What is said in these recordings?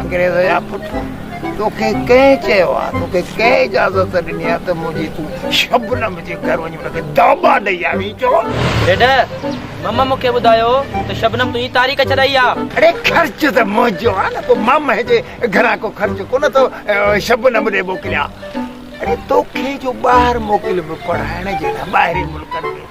انگريز جا پٽ توکي ڪنهن چيو آ توکي ڪنهن اجازت ڏني آ ته منهنجي تون شبنم جي گهر وڃي ان کي داٻا ڏئي آ ويچو ڊيڊ مم مون کي ٻڌايو ته شبنم تنهنجي تاريخ ڇڏائي آ اڙي خرچ ته منهنجو آ نه پوء مم جي گهران ڪو خرچ ڪونه ٿو شبنم ڏي موڪليان اڙي توکي جو ٻاهر موڪليو پڙهائڻ جي لاء ٻاهرين ملڪن ۾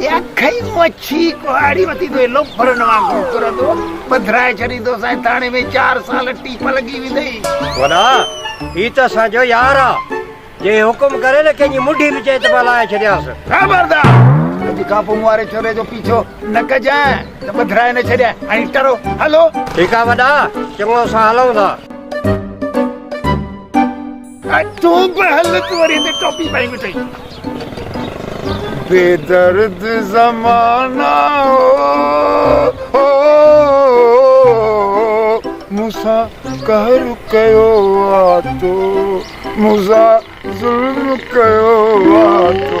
يا کئي مڇي ڪهاڙي وتي ٿو ايلو ڦرن وانگر ڦرندو پڌرائي ڇڏيندو سائين ٿاڻي ۾ چار سال ٽيپ لڳي ويندئي وڏا هي ته اسان جو يار آ جي حڪم ڪري نه ڪنهن جي مڍي به چئي ته مان لاهي ڇڏيانس خبردار اڄ کان پوء مون واري ڇوري جو پيڇو نه ڪجانء ته پڌرائي نه ڇڏيانء هاڻي ٽرو هلو ٺيڪ آ وڏا چڱو اسان هلون ٿا. تون به هل تون وري هتي ٽوپي پائي ويٺي. بي درد زمانا او مون سان قهر ڪيو آ تو مون سان ظلم ڪيو آ تو.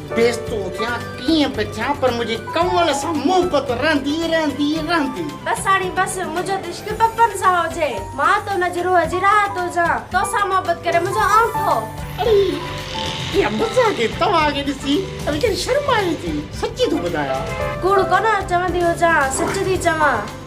بيس تون ٿيان ڪيئن به ٿيان پر منهنجي ڪنول سان محبت رهندي رهندي رهندي. بس ساڻي بس منهنجو ته عشق پپن سان هجي مان ته ان جي روح جي راحت هجان توسان محبت ڪري منهنجو آئون ٿو. اڙي اها مزاح ڪئي توهان کي ڏسي ته ويچاري شرمائي ٿي سچي ٿو ٻڌايان. ڪوڙ ڪونه چوندي هجان سچ ٿي چوان.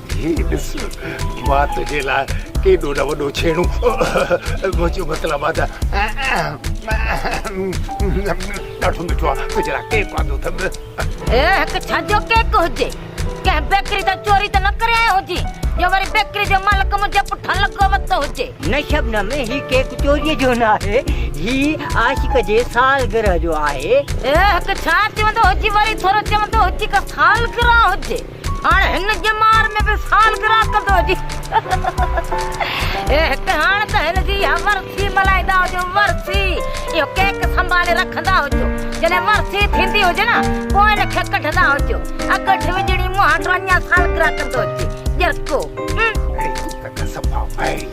هي ڏس مان تنهنجي لاء ڪيڏو نه وڏو ڇيڻو منهنجو مطلب آ ته ڏاڍو مٺو آ تنهنجي لاء ڪيڪ آندو اٿم هي هڪ ڇا جو ڪيڪ هجي ڪنهن بيڪري تان چوري ته نه ڪري آيو هجين جو وري بيڪري جو مالڪ منهنجي پٺان لڳو وتو هجي. نه شبنم هي ڪيڪ چوري جو نه آهي هي عاشق جي سالگرهه جو آهي. هي هڪ ڇا چوندو هجي وري ٿورو چوندو هجي ڪا سالگرهه هجي. هاڻ هن ڄمار ۾ به سالگرهه ڪندو هجي. هي هڪ هاڻ ته هن جي اها ورسي ملهائيندا هجو، ورسي اهو ڪيڪ سنڀالي رکندا هجو، جڏهن ورسي ٿيندي هجي نه پوء هن کي ڪڍندا هجو، اڳٺ وڄڻي مون هاٽو اڃا سالگرهه ڪندو هجي، ڄرڪو. اڙي هو ته صفا وائڙي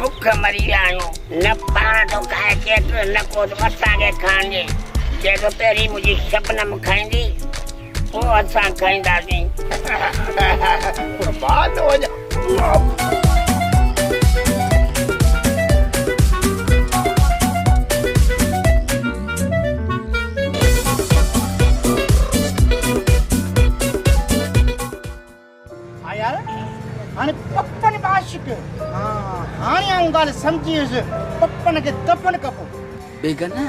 بک مري ويا آهيون نه پاڻ ٿو کائي ڪيس نه ڪو اسان کي کائڻ ڏي چئي ٿو پهرين منهنجي شبنم کائيندي پوء اسان کائينداسين قربان ٿو وڃان ها يار هاڻي پپن به عاشق. ها هاڻي آئون ڳالهه سمجهي ويس پپن کي دفن ڪبو. بيگنه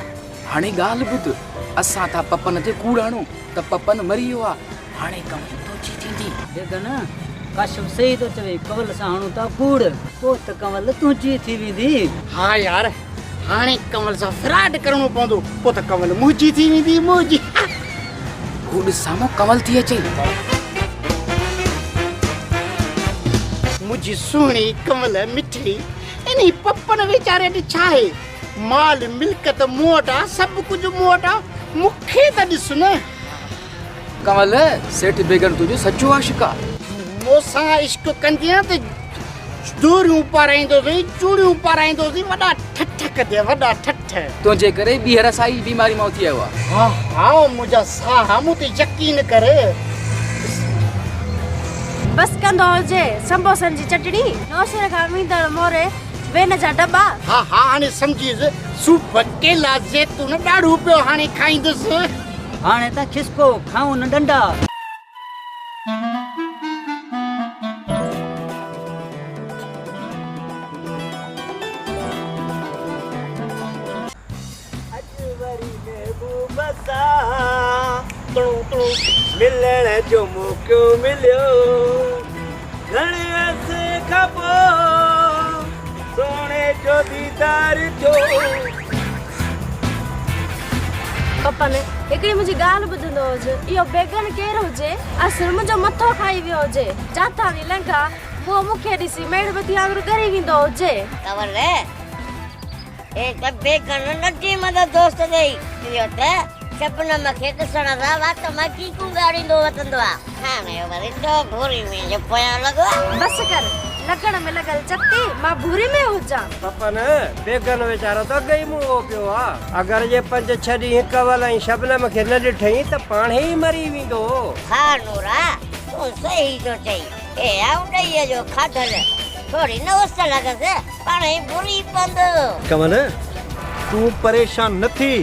هاڻي ڳالهه ٻڌ اسان ٿا پپن تي ڪوڙ هڻون ته پپن مري ويو آ هاڻي ڪمائي تنهنجي ٿيندي. بيگنه ڪاشف صحيح ٿو چوي ڪنول سان هڻون ٿا ڪوڙ پوء ته ڪنول تنهنجي ٿي ويندي. ها يار هاڻي ڪنول سان فراڊ ڪرڻو پوندو پو ته ڪنول منهنجي ٿي ويندي منهنجي هو ڏس سامو ڪنول ٿي اچي منهنجي سهڻي ڪنول مٺي انهي پپن ويچاري ڏي ڇا آهي مال ملڪت مون وٽ آ سڀ ڪجهه مون وٽ آ مونکي ته ڏس نه ڪنول سيٺ بيگن تنهنجو سچو عاشق آ. مون سان عشق ڪندين ته جوڙيون پارائيندوسين، چوڙيون پارائيندوسين، وڏا ٺٺ ڪندين، وڏا ٺٺ. تنهنجي ڪري ٻيهر سائي بيماري مان اٿي آيو آهيان. ها ها منهنجا ساها مون تي يقين ڪر. بس ڪندو هجي سمبوسن جي چٽڻي. نوشهري کان ويندڙ موري وين جا دٻا. ها ها هاڻي سمجهيس صوف، ڪيلا، زيتون، ڏاڙهون پيو هاڻي کائيندس. هاڻي ته کسڪو کائون ڏنڊا. اڄ وري محبوب سان ملڻ جو موقعو مليو. گهڻي عرصي کان پوء سهڻي جو ديدار ٿيو. پپن، هڪڙي منهنجي ڳالهه ٻڌندو هج. اهو بيگن ڪير هجي؟ اصل منهنجو مٿو کائي ويو هجي. جاتاڻي لنگهان، اهو مون کي ڏسي ميڙ مٿي وانگر ڳري ويندو هجي. تنور! هڪ بيگنه ننڍي مدد دوست ڏيئي چيو ته، شبنم کي ڏسڻ سان وات مان چيڪون ڳاڙيندو وتندو آ. هاڻي ورندو ڀوري ۾ جو پويان لڳو آ. بس ڪر، لڳڻ ۾ لڳل چتي، مان ڀوري ۾ هجان. پپن، بيگنه ويچارو ته اڳ ئي موئو پيو آ. اگر جي پنج ڇهه ڏينهن ڪنول ۽ شبنم کي نه ڏٺئين ته پاڻهي ئي مري ويندو. ها نورا، تون صحيح ٿو چئين. هي آئون ڏيئي جو کاڌل ٿوري نه هوس ته لڳس. پاڻهي ٻري پوندو. ڪنول، تون پريشان نه ٿي.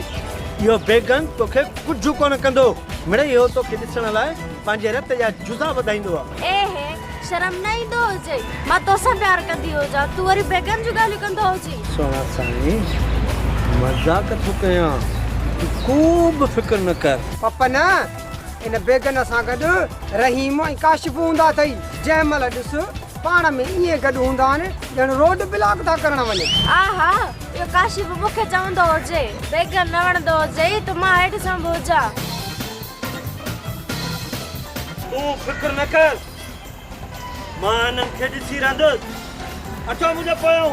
اهو بيگن توکي ڪجهه ڪونه ڪندو. مڙئي اهو توکي ڏسڻ لاء پنهنجي رت جا جزا وڌائيندو آ. اي هي، شرم نه ايندو هجئي. مان توسان پيار ڪندي هجان، تون وري بيگن جون ڳالهيون ڪندو هجين. سهڻا سائين، مذاق ٿو ڪيان. تون ڪو به فڪر نه ڪر. پپ نه، ان بيگن سان گڏ رحيم ۽ ڪاشف هوندا اٿئي. جنهن مهل ڏس، پاڻ ۾ ائين گڏ هوندا آهن ڄڻ روڊ بلاڪ ٿا ڪرڻ وڃن. آء ها اهو ڪاشي به مون کي چوندو هجي. بيگر نه وڻندو هجئي ته مان هيٺ سنڀ هجان. تون فڪر نه ڪر مان هنن کي ڏسي رهندس. اچو منهنجي پويان.